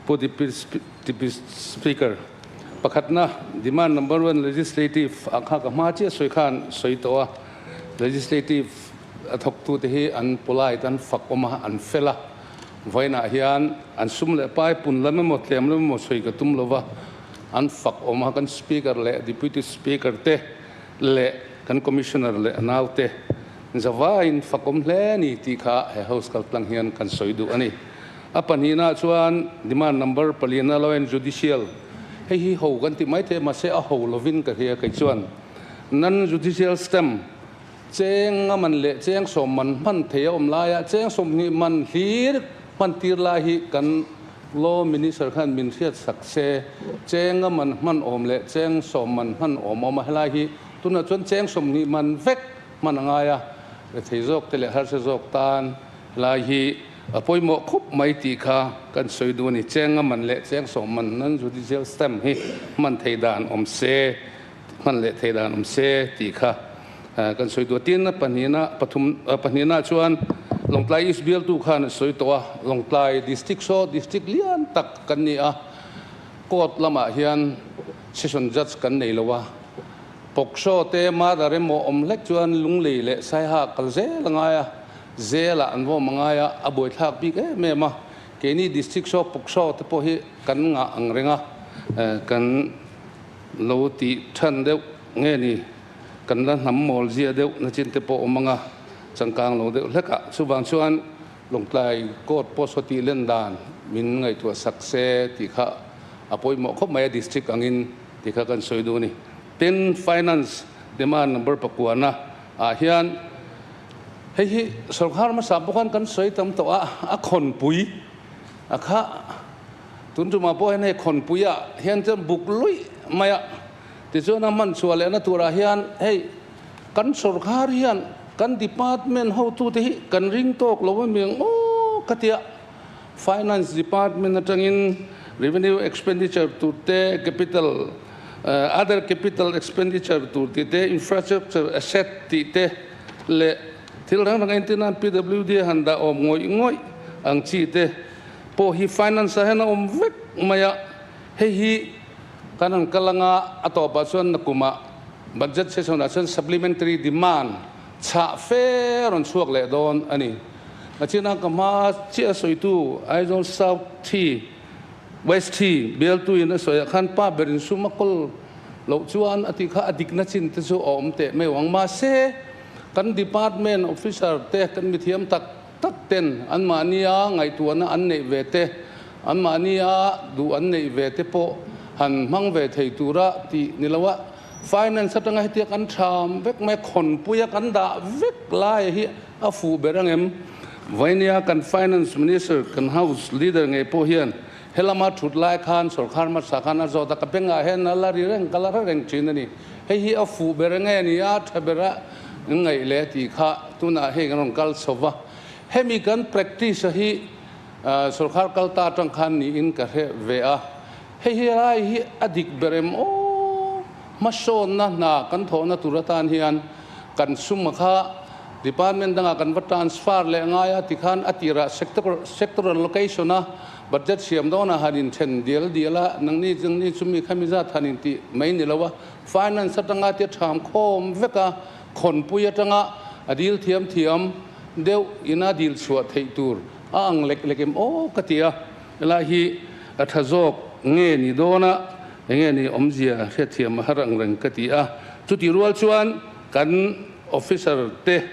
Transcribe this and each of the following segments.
Pu Deputy Speaker, Pakhatna, Demand Number One Legislative a nghak a hma chiah sawi khan sawi tawh a, Legislative a thawktu te hi an polite an fakwm a, an fel a, vawiinah hian an sum leh pai pun lam emaw tlem lam emaw sawi ka tum lo va, an fakwm a, kan Speaker leh Deputy Speaker te leh kan Commissioner leh a nau te zavain fakwm hle a ni tih kha he House kaltlang hian kan sawi duh a ni. A pahnihna chuan demand number pali na lawian judicial hei hi ho kan tih mai thei mahse a ho lovin ka hria kei chuan nan judicial stamp cheng a man leh cheng sawm man hman thei a awm laia cheng sawmhnih man hlir hman tir lai hi kan law minister khan min hriat sak se cheng a man hman awm leh cheng sawm man hman awm awm a helai hi tunah chuan cheng sawmhnih man vek hman a ngai a lethei zawk te leh harsa zawk tan helai hi A pawimawh khawp mai tih kha kan sawi duh a ni. Cheng a man leh cheng sawm man nan judicial stamp hi hman thei dan awm se, hman leh thei dan awm se tih kha kan sawi duh a. Tin a pahnihna, pathum, a pahnihna chuan Lawngtlai East bialtu khan a sawi tawh a, Lawngtlai district saw district lian tak kan ni a, court lamah hian session judge kan nei lo a, pawk saw te, murder emaw awm hlek chuan Lunglei leh Saihak kal zel a ngai a. Zela an vawm a ngai a, a buaithlak bik em em a. Keini district saw pawk saw te pawh hi kan ngah ang reng a, kan lo ti than deuh nge ni, kan la hnam mawl zia deuh nachin te pawh awm ang a, changkang lo deuh hlek a. Chuvang chuan Lawngtlai court pawh saw tih len dan min ngaihtuah sak se tih kha a pawimawh khawp mai a, district angin tih kha kan sawi duh a ni. Tin, finance demand number pakua na ah hian, Hei hi sawrkar hmasa pawh khan kan sawi tam tawh a, a khawnpui a khah. Tun tumah pawh hian hei khawnpui ah hian chuan buk luih mai a, tichuan a hman chhuah lehna turah hian hei kan sawrkar hian kan department hotute hi kan ring tawk lo a mi ang maw ka tia. Finance Department atangin Revenue Expenditure tur te, Capital, Other Capital Expenditure tur tih te, Infrastructure Asset tih te leh thil hrang hrang entir nan PWD a han dah awm ngawih ngawih ang chi te pawh hi Finance ah hian a awm vek mai a, hei hi kan han kal anga a tawpah chuan na kumah Budget session ah chuan Supplementary Demand Chhah fe rawn chhuak leh dawn a ni. A china ka hma a chiah sawitu Aizawl South thi, West thi, bialtuin a sawiah khan pa ber in sum a kawl loh chuan a ti kha a dikna chin te chu a awm teh mai vang. Mahse, kan department officer te, kan mithiam tak tak ten an mahnia ngaihtuahna an neih ve te, an mahnia duh an neih ve te pawh han hmang ve thei tura tih ni lo a. Finance atanga hetia kan tham vek mai khawnpuia kan dah vek laia hi a fuh ber angem? Vawihnia kan Finance Minister kan House Leader ngei pawh hian he lama thut lai khan sorkar hmasa khan a zawt a, ka bengah hian a la ri reng ka la hre reng thin a ni. Hei hi a fuh ber nge a nia tha bera in ngaih leh tih kha tunah hei kan rawn kal chho va. Hemi kan practice-a hi sorkar kal ta atang khan niin ka hreh ve a. Hei helai hi a dik ber em aw! Hmasawnna hna kan thawhna tur atan hian kan suma kha Department dangah kan va transfer leh ngai a tikhan a tirah Sector Allocation a Budget siam dawnah han inthen dial dial a, nangni chungni chu mi khami zat han inti mai ni lo a, Finance atanga tia tham khawm vek a, Khawnpui atanga a dil thiam thiam deuh ina dil chhuah theih tur a ang lek lek em aw ka ti a. Helai hi a tha zawk nge ni dawn a, enge ni awmzia hriatthiam a harang reng ka ti a, chuti rual chuan kan officer te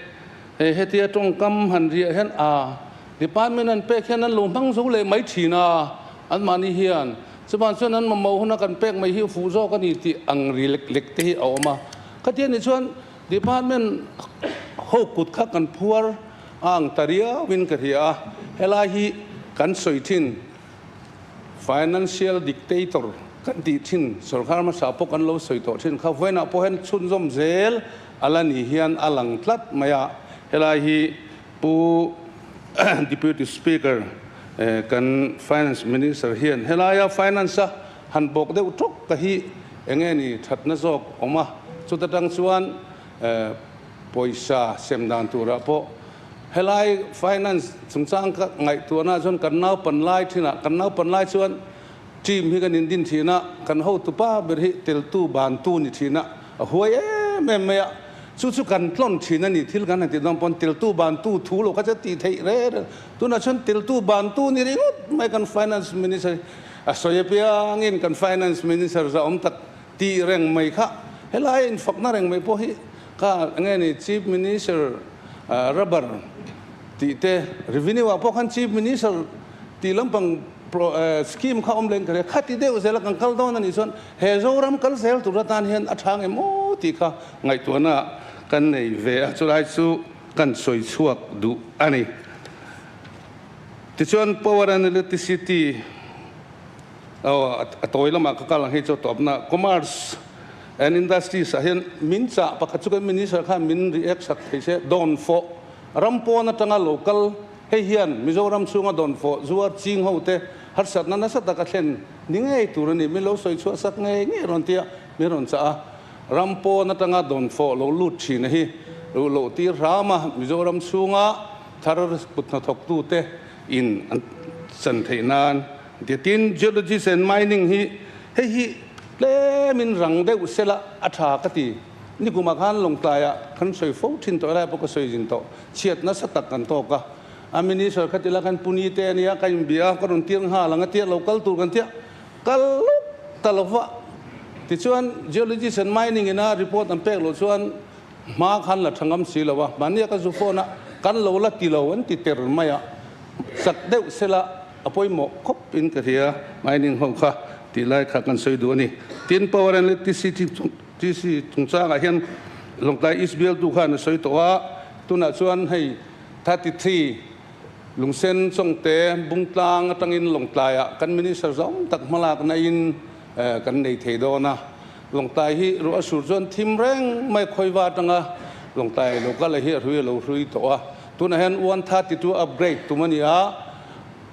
he hetia tawngkam han riah hian aa department an pek hian an lo hmang zo leh mai thin a, anmahni hian chuvan chuan an mamawh huna kan pek mai hi a fuh zawk a ni tih ang ri lek lek te hi a awm a, khatia ni chuan Department ho kut kha kan phuar ang ta riau in ka hria a, helai hi kan sawi thin financial dictator kan tih thin sorkar hmasa pawh kan lo sawi tawh thin kha vawiinah pawh hian chhunzawm zel a la nih hian a lang tlat mai a, helai hi pu deputy speaker kan finance minister hian helaia finance a Han bawk deuh tawk ka hi enge ni thatna zawk awm a, chuta tang chuan pawisa sem dan turah pawh helai finance chungchang ka ngaihtuahna ah chuan kan naupan lai thinah kan naupan lai chuan team hi kan indin thihna kan hotu pa ber hi teltu bantu ni thihna a huai em em mai a, chu chu kan tlawn thin a ni, thil kan han ti dawn pawn teltu bantu thu lo kha che ti theih reng reng, tunah chuan teltu bantu ni ringawt mai kan finance minister hi. A sawi apiang in kan Finance Minister zaawm tak ti reng mai kha helai a infakna reng mai pawh hi ka nge ni Chief Minister Rubber tih te Revenue ah pawh khan Chief Minister tih lampang Scheme kha awm leh in ka hria. Khati deuh zel a kan kal dawn a nih chuan he Zoram kal zel tur atan hian a thang em aw tih kha ngaihtuahna kan nei ve a chulai chu kan sawi chhuak duh a ni. Tichuan Power and Electricity aw a tawi lamah ka kal ang hei chu tawpna Commerce and Industries ah hian min chah pakhat chu kan Minister khan min ri eksak thei se Dawn Fawh ram pawn atanga lo kal hei hian Mizoram chhunga Dawn Fawh zuar ching ho te harsatna nasa taka thlen ni ngei tur a ni min lo sawi chhuahsak ngei ngei rawn tia min rawn chah a ram pawn atanga Dawn Fawh lo lut thin a hi ruh loh tir hram a Mizoram chhunga Thar kuthnathawktute in an chan theih nan dia tin Geologists and Mining hi hei hi tlem in rang deuh sela a tha ka ti. Nikum ah khan Lawngtlai ah kan sawi fo thin tawh elah pawh ka sawi zin tawh. Chhiat nasa tak kan tawk a. A Minister khat ila kan puni te ania ka inbia a, ka rawn tir nghal ang a tirh lo kal tur kan tirh kal ta lo vah. Tichuan Geologists and Mining ina report an pek loh chuan Hma khan la tha ngam si lo a, mahnia ka zu fawn a, kan lo la ti lo an ti ter mai a, chak deuh sela a pawimawh khawp in ka hria, Mining ho kha tih lai kha kan sawi duh a ni. Tin, Power and Electricity TC chungchangah hian Lawngtlai East bialtu khan a sawi tawh a, tunah chuan hei thirty three Lungsen Chawngte Bungtlang atangin Lawngtlaiah kan Minister zawng tak hmalak naihin, Kan nei thei dawn a, Lawngtai hi ruah a sur chuan thim reng mai a khawi va atang a, Lawngtai lo kal a hi a hrui a lo hrui tawh a, tunah hian one thirty two upgrade tum a ni a,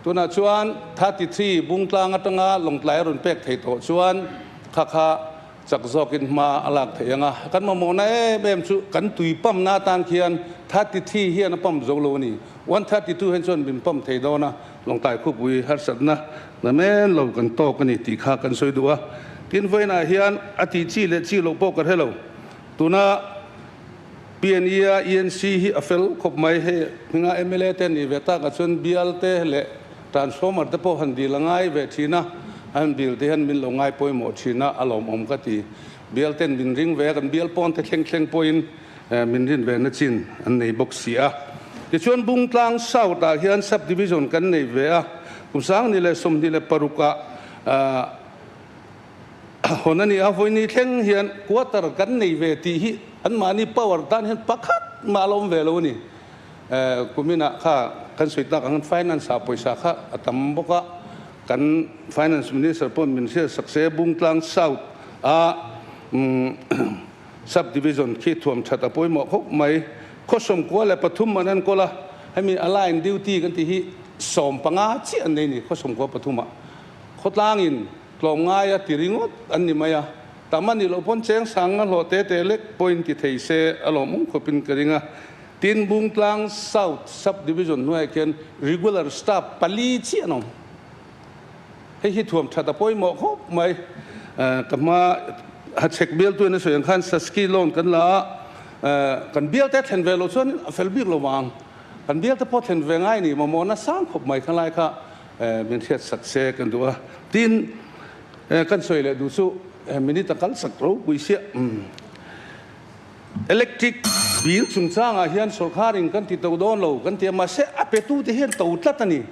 tunah chuan thirty three bung tlang atanga Lawngtlai a rawn pek thei tawh chuan kha kha chak zawkin hma a lak thei ang a, kan mamawhna em em chu kan tui pamna atan khian thirty three hian a pam zo lo a ni, one thirty two hian chuan min pam thei dawn a. Lawngtlai khawpui harsatna hna men lo kan tawk a ni tih kha kan sawi duh a, tin vawiinah hian a tih chi leh chi loh pawh ka hre lo. Tuna PNE-a ENC hi a fel khawp mai. Hei hminga mla te an nih ve takah chuan bial te leh transformer te pawh han dil a ngai ve thin a, an bil te hian min lo ngai pawimawh thin a, a lawmawm ka ti. Bial ten min ring ve a, kan bial pawnte thleng thleng pawhin min rin ve na chin an nei bawk si a. Tichuan Bungtlang South ah hian Subdivision kan neih ve a, kum sangni leh sawmhnih leh paruk ah hawn a ni a, vawiini thleng hian Quarter kan neih ve tih hi an mahni power tan hian pakhat mah ala awm ve lo a ni. Kumin ah kha kan sawi tak ang hian Finance ah pawisa kha a tam bawk a, kan Finance Minister pawh min hriatsak se, Bungtlang South ah umm. Subdivision khi thuam that a pawimawh khawp mai. Khawsawm kua leh pathum an en kawl a, hemi align duty kan tih hi sawm panga chiah an nei ni, khawsawm kua pathuma khawtlangin tlawm ngaia ti ringawt an ni mai a, tam a nih loh pawn cheng sang a hlawh te teh lek point ti thei se a lawm awm khawpin ka ring a. Tin, Bungtlang South Subdivision hnuaiah khian regular staff pali chiah an awm. Hei hi thuam that a pawimawh khawp mai. Ka hma a chhek bialtu in a sawi ang khan Sasky loan kan la a, kan bialte a thlen ve lo chuan in a fel bik lo vang. Kan bialte pawh thlen ve ngai ni, mamawhna sang khawp mai kha lai kha min hriat sak se kan duh a. Tin, kan sawi leh duh chu minute a kal sak ropui sia. Electric bill chungchangah hian sawrkharin kan ti tauh dawn lo kan ti a, mahse a petute hian to tlat a ni.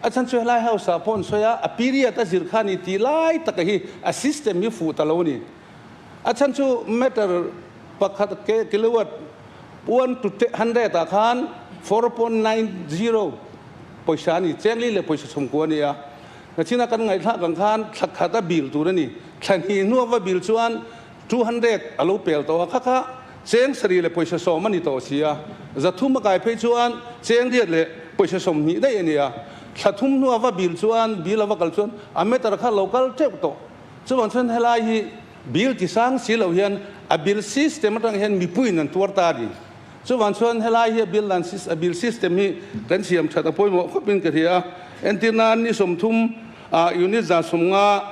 A chhan chu helai hausa pawh an sawi a, a period a zir kha a ni tih lai taka hi a system hi fuh ta lo a ni. A chhan chu matter pakhat kilowatt one to hundred ah khan four point nine zero pawisa a ni, chengli leh pawisa chhungkua a ni a. Nachina kan ngaihhlak ang khan thlakhat a bill tur a ni. Thlahni hnuava bill chuan Two hundred a lo pel tawh a kha kha, cheng sarih leh pawisa sawm a ni tawh si a, za thum a kai phei chuan cheng riat leh pawisa sawm hnih daih a ni a, thla thum hnu a va bil chuan bil a va kal chuan a meter kha lo kal teuh tawh. Chuvang chuan helai hi bil ti sang si loh hian a bil system atang hian mipuiin an tuar ta a ni. Chuvang chuan helai hi a bil dan a bil system hi kan siam that a pawimawh khawpin ka hria a, entirna ni sawm thum ah unit za sawm nga,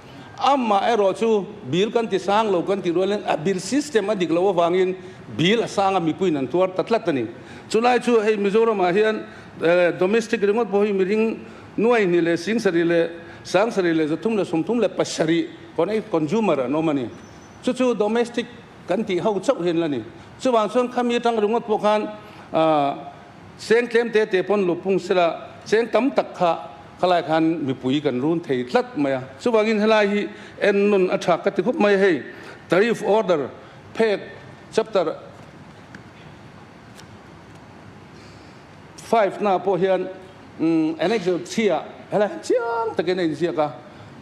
Amah erawh chu Bill kan ti sang lo kan tih rual in a Bill system a dik loh avang in Bill a sang a mipuiin an tuar ta tlat a ni. Chu lai chu hei Mizoram ah hian domestic ringawt pawh hi mihring nuai hnih leh sing sarih leh sang sarih leh za thum leh sum thum leh pasarih con ei consumer an awm a ni. Chu chu domestic kan tih ho chauh hian la ni. Chuvang chuan khami atang ringawt pawh khan ah Cheng tlemte te pawn luhpung sela cheng tam tak kha khalai khan mipui kan run thei tlat mai a. Chuvangin helai hi en nun a thak ka ti khawp mai a hei, Tariff Order, Phek, Chapter five hna pawh hian Annexure three ah helai han chiang takin a inziak a.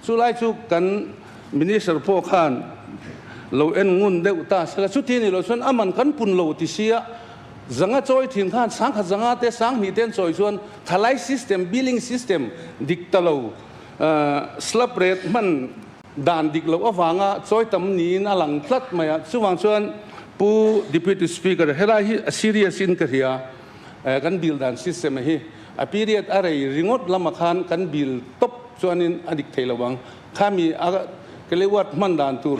Chu lai chu kan Minister pawh khan lo en ngun deuh ta sela chuti ni lo chuan a man kan pun lo tisia Zanga chawi thin khan sangkhat zanga te sanghnih ten chawi chuan thalai system, billing system, dik ta lo, slab rate hman dan dik loh avanga chawi tam niin a lang tlat mai a. Chuvang chuan Pu Deputy Speaker, helai hi a serious in ka hria, kan bill dan system hi a period a rei ringawt lama khan kan bill tawp chuanin a dik thei lo ang. Khami a kilowatt hman dan tur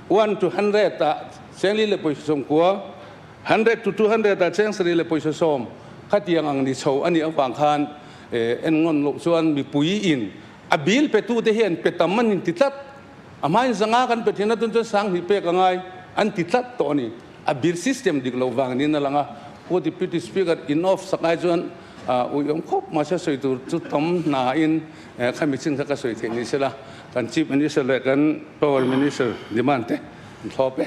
one to hundred ah Sengli leh Pawisaw Sawmkua Hundred to two hundred a cheng sarih leh pawisa sawm khatiang ang ni chho a nih avang khan en ngawn loh chuan mipui in a bil petu te hian pe tam an inti tlat a hmain zanga kan pe thin a tun chuan sanghnih pek a ngai an ti tlat tawh a ni a bil system dik loh vang niin a lang a Pu Deputy Speaker in off sak ai chuan uiawm khawp mahse a sawi tur chu tam hna in khami chin kha ka sawi thei ni se la kan Chief Minister leh kan Power Minister demand te an thlawp e.